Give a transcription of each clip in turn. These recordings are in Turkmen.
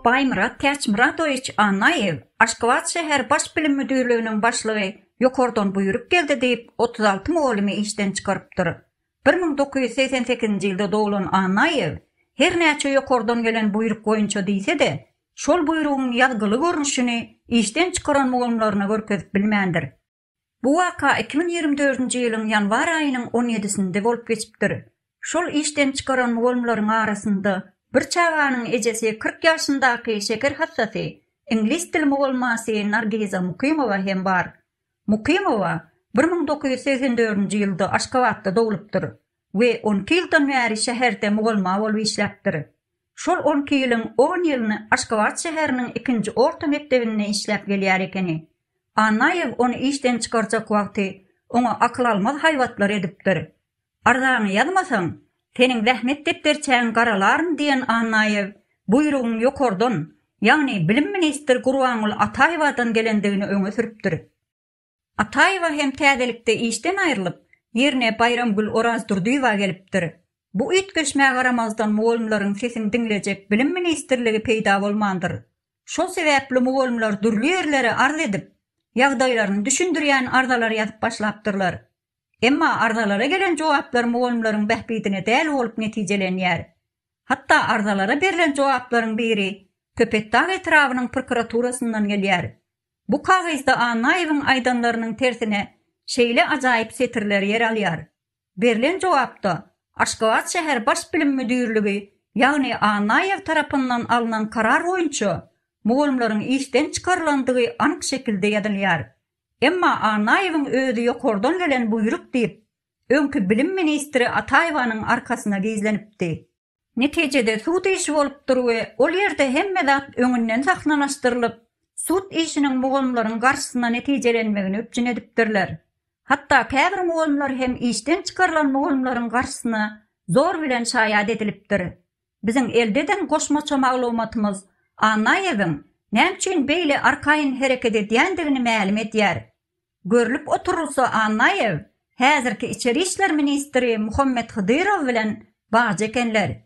Baýmyrat Täçmyradowiç Annaýew, Aşgabat şäher Baş bilim müdirliginiň başlygy ýokardan buýruk geldi diýip, otuz alty mugallymy işden çykarypdyr. Bir müň dokuz ýüz segsen sekizinji ýylda doglan Annaýew, her näçe ýokardan gelen buýruk boýunça diýse-de, şol buýrugyň ýazgyly görnüşini işden çykaran mugallymlaryna görkezip bilmändir. Bu waka iki müň ýigrimi dördünji ýylyň ýanwar aýynyň on ýedisinde bolup geçipdir. Şol işden çykaran mugallymlaryň arasynda bir çaganyň ejesi kyrk ýaşyndaky şeker hassasy, iňlis dili mugallmasy Nargiza Mukymowa hem bar. Mukymowa bir müň dokuz ýüz segsen dördünji ýylda Aşgabatda doglupdyr. we on iki ýyldan bäri şäherde mugallma bolup işläpdir. Şol on iki ýylyň on ýylyny Aşgabat şäheriniň ikinji orta mekdebinde işläp gelýär ekeni. Annaýew ony işden çykarjak wagty oňa akyl almaz haýbatlar edipdir. Arzaňy ýazmasaň, seniň zähmet depderçäňi garalaryn diýen Annaýew buýrugyň ýokardan, ýagny bilim ministri Gurbanguly Ataýewadan gelendigini öňe sürüpdir. Ataýewa hem täzelikde işden aýrylyp, ýerine Baýramgül Orazdurdyýewa gelipdir. Bu üýtgeşmä garamazdan mugallymlaryň sesini diňlejek Bilim ministrligi peýda bolmandyr. Şol sebäpli mugallymlar dürli ýerlere arz edip, ýagdaýlaryny düşündirýän arzalar ýazyp başlapdyrlar. Emma arzalara gelen jogaplar mugallymlaryň bähbidine däl bolup netijelenýär. Hatda arzalara berlen jogaplaryň biri Köpetdag etrabynyň prokuraturasyndan gelýär. Bu kagyzda Annaýewiň aýdanlarynyň tersine şeýle ajaýyp setirler ýer alýar, Berlen jogapda Aşgabat şäher Baş bilim müdirligi, ýagny Annaýew tarapyndan alnan karar boýunça mugallymlaryň işden çykarylandygy anyk şekilde ýazylýar. Emma Annaýewiň özi ýokardan gelen buýruk diýip, öňki bilim ministri Ataýewanyň arkasyna gizlenipdi. Netijede sud işi bolupdyr we ol ýerde hemme zat öňünden sahnalaşdyrylyp, sud işiniň mugallymlaryň garşysyna netijelenmegini üpjün edipdirler. Hatda käbir mugallymlar hem işden çykarylan mugallymlaryň garşysyna zor bilen şaýat edilipdir. Biziň elde eden goşmaça maglumatymyz Annaýewiň näme üçin beýle arkaýyn hereket edýändigini mälim edýär. Görlüp oturylsa Annaýew häzirki içeri işler ministri Muhammet Hydyrow bilen bagja ekenler.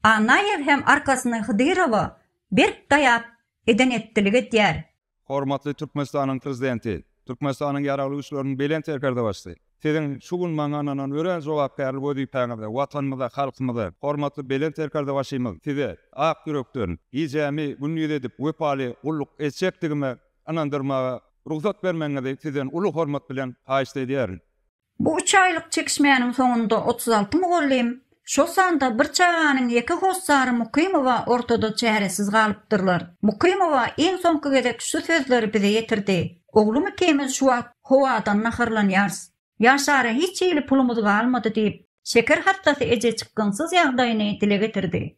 Annaýew hem arkasyny Hydyrowa berk daýap eden etdilik edýär. Hormatly Türkmenistanyň Prezidenti, Türkmenistanyň Ýaragly Güýçleriniň Belent Serkerdebaşysy! Siziň şu gün maňa ynanan örän jogapkärli wezipäňizde Watanymyza, halkymyza, hormatly Belent Serkerdebaşymyz Size ak ýürekden, gijämi gündiz edip wepaly gulluk etjekdigime ynandyrmaga rugsat bermegiňizi sizden uly hormat bilen haýyşt edýärin. Bu üç aýlyk çekişmäniň soňunda otuz alty mugallym, şol sanda bir çaganyň ýeke hossary Mukymowa ortada çäresiz galypdyrlar. Mukymowa iň soňky gezek şu sözleri bize ýetirdi, Oglum ikimiz şu wagt howadan naharlanýarys. Ýaşara hiç hili pulumyz galmady diýip, şeker hassasy eje çykgynsyz ýagdaýyny dile getirdi.